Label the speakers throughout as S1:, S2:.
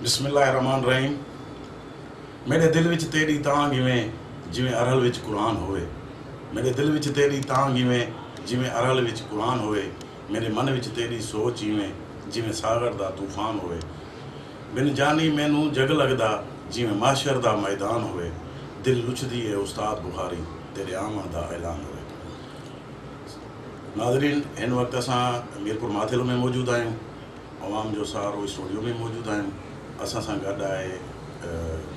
S1: بسم الله الرحمٰن الرحيم ميڏي دل وچ تيڏي تانگهه وين جيوين ارهل وچ قرآن هووي ميڏي دل وچ تيڏي تانگهه وين جيوين ارهل وچ قرآن هووي ميڏي من وچ تيڏي سوچ ايوين جيوين ساغر دا طوفان هووي بن جاني مينهون جڳ لڳدا جيوين محشر دا ميدان هووي دل لڇدي اي استاد بخاري تيڏي آوڻ دا اعلان هووي ناظرين هن وقت اسان ميرپور ماٿيلو ۾ موجود آهيون. عوام جو سهارو اسٽوڊيو ۾ موجود آهن اسان سان گڏ آهي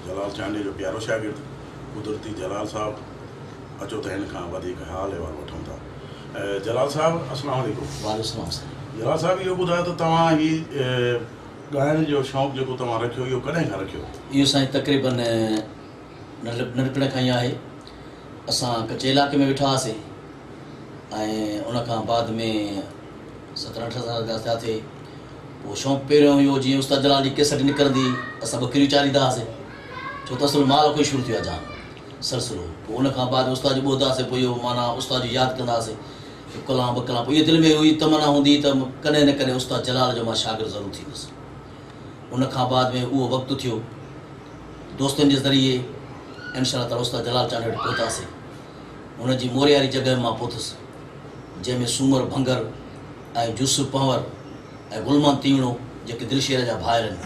S1: جلال چانڊيو جو پيارو شاگرد قدرتي جلال صاحب اچو ته هن کان وڌيڪ حال احوال وٺون ٿا جلال صاحب السلام عليڪم وعليڪم السلام سائين
S2: جلال صاحب اهو
S1: ٻڌايو ته توهان هي ڳائڻ جو شوق جيڪو توهان رکيو اهو ڪڏهن کان رکيو اهو سائين تقريبن
S2: ننڍپڻ کان ئي آهي اسان ڪچي علاقي ۾ ويٺا هئاسي ۽ ان کان بعد ۾ سترهن اٺن سالن جا ٿيا ٿي پوء شوق پهريون اهو هيو جيئن استاد جلال جي ڪيسٽ نڪرندي اسان ٻڪريون چاريندا هئاسين ڇو ته اصل مال کان ئي شروع ٿيو آهي جان سلسلو پوء ان کان بعد استاد جي ٻوڌ هئاسين پوء اهو معنيٰ استاد جي ياد ڪندا هئاسين هڪ ڪلام ٻه ڪلام پوء اها دل ۾ اها ئي تمنا هوندي هئي ته ڪڏهن نه ڪڏهن استاد جلال جو مان شاگرد ضرور ٿيندس ان کان بعد ۾ اهو وقت ٿيو دوستن جي ذريعي انشاء الله تعاليٰ استاد جلال چانڊيو وٽ پهتاسين هن جي مورياري جڳهه مان پهتس جنهن ۾ سومر ڀنگر ۽ يوسف پنهور ۽ گل محمد تيوڻو جيڪي دلشير جا ڀائر آهن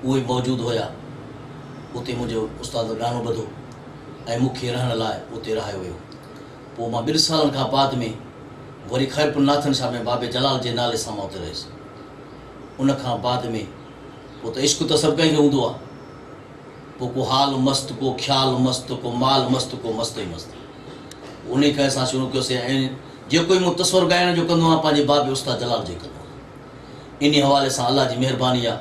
S2: اهي موجود هيا. اتي منهنجو استاد ڳائڻو ٻڌو ۽ مون کي رهڻ لاء اتي رهايو ويو. پوء مان ٻن سالن کان بعد ۾ وري خيرپور ناٿن شاهه ۾ بابي جلال جي نالي سان مان اتي رهيس. ان کان بعد ۾ پوء ته عشق ته سڀ ڪنهن کي هوندو آهي. پوء ڪو حال مست، ڪو خيال مست، ڪو مال مست، ڪو مست ئي مست. پوء انهيء کان اسان شروع ڪيوسين ۽ جيڪو ئي مون تصور ڳائڻ جو ڪندو آهيان پنهنجي باب استاد جلال جي ڪندو آهيان. انهيء حوالي سان الله جي مهرباني آهي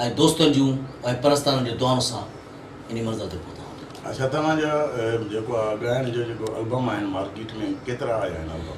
S2: ۽ دوستن جون ۽ پرستارن جي دعائن سان انهيء منزل تي پهتا آهيون. اڇا توهان جا
S1: جيڪو آ ڳائڻ جو جيڪو البم آهن مارڪيٽ ۾ ڪيترا آيا آهن البم؟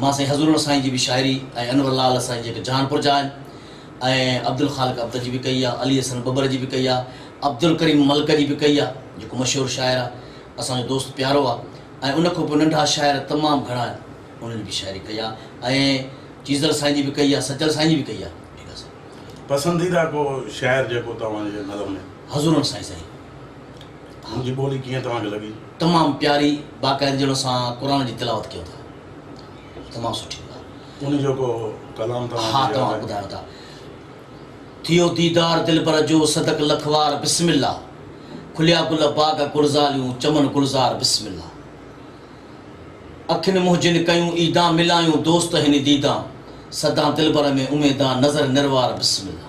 S1: مان سائين
S2: حضرور سائين جي به شاعري ۽ انور لعل سائين جي به جان پرجا آهن ۽ عبدالخالق ابتر جي به ڪئي آهي، علي حسن ٻٻر جي به ڪئي آهي، عبدالڪريم ملڪ جي به ڪئي آهي، جيڪو مشهور شاعر آهي، اسان جو دوست پيارو آهي ۽ ان کان پوء ننڍا شاعر تمام گهڻا آهن، انهن جي به شاعري ڪئي آهي ۽ چيزل سائين جي به ڪئي آهي، سچل سائين جي به ڪئي آهي. پسنديده
S1: ڪو شاعر جيڪو توهان جي نظر ۾؟ حضرور سائين سائين.
S2: منهنجي
S1: ٻولي ڪيئن توهان کي لڳي؟ تمام پياري
S2: باقاعدي جهڙو سان قرآن جي تلاوت ڪيو ٿا تمام سٺي ڳالهه. ان جو ڪو
S1: ڪلام توهان کي ياد آهي؟ ها توهان ٻڌايو ٿا.
S2: ٿيو ديدار دلبر جو صدق لک وار بسم الله کليا گل باغ گلزاريون چمن گلزار بسم الله اکين منهجين ڪيون عيدان ملايون دوست هني ديدان سدان دلبر ۾ اميدان نظر نروار بسم الله.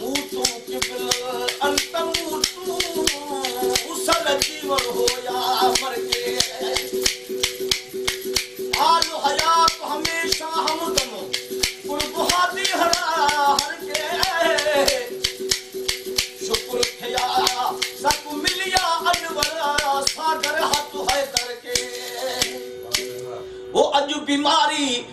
S3: مون تون قبل انت مون تون سر جيون هو يا مرگي حال حيات هميشه همدم قرب هادي هرا هر ڪي شڪر ٿيا سڀ مليا انور ساگر هت حيدر ڪي هو اڄ بيماري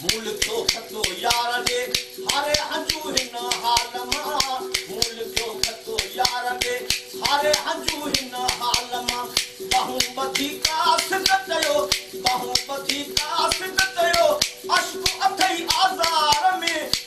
S3: مون لکيو خطو يار ڏي هاري هنجو هن حال مان مون لکيو خطو يار ڏي هاري هنجو هن حال مان ٻانهون ٻڌي ڪا سڌ ڪيو ٻانهون ٻڌي ڪا سڌ ڪيو عشق اٿئي آزار ۾.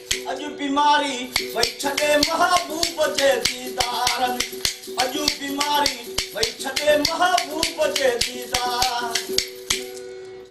S3: اڄ بيماري وئي ڇڏي محبوب جي ديدار اڄ بيماري وئي ڇڏي محبوب جي ديدار.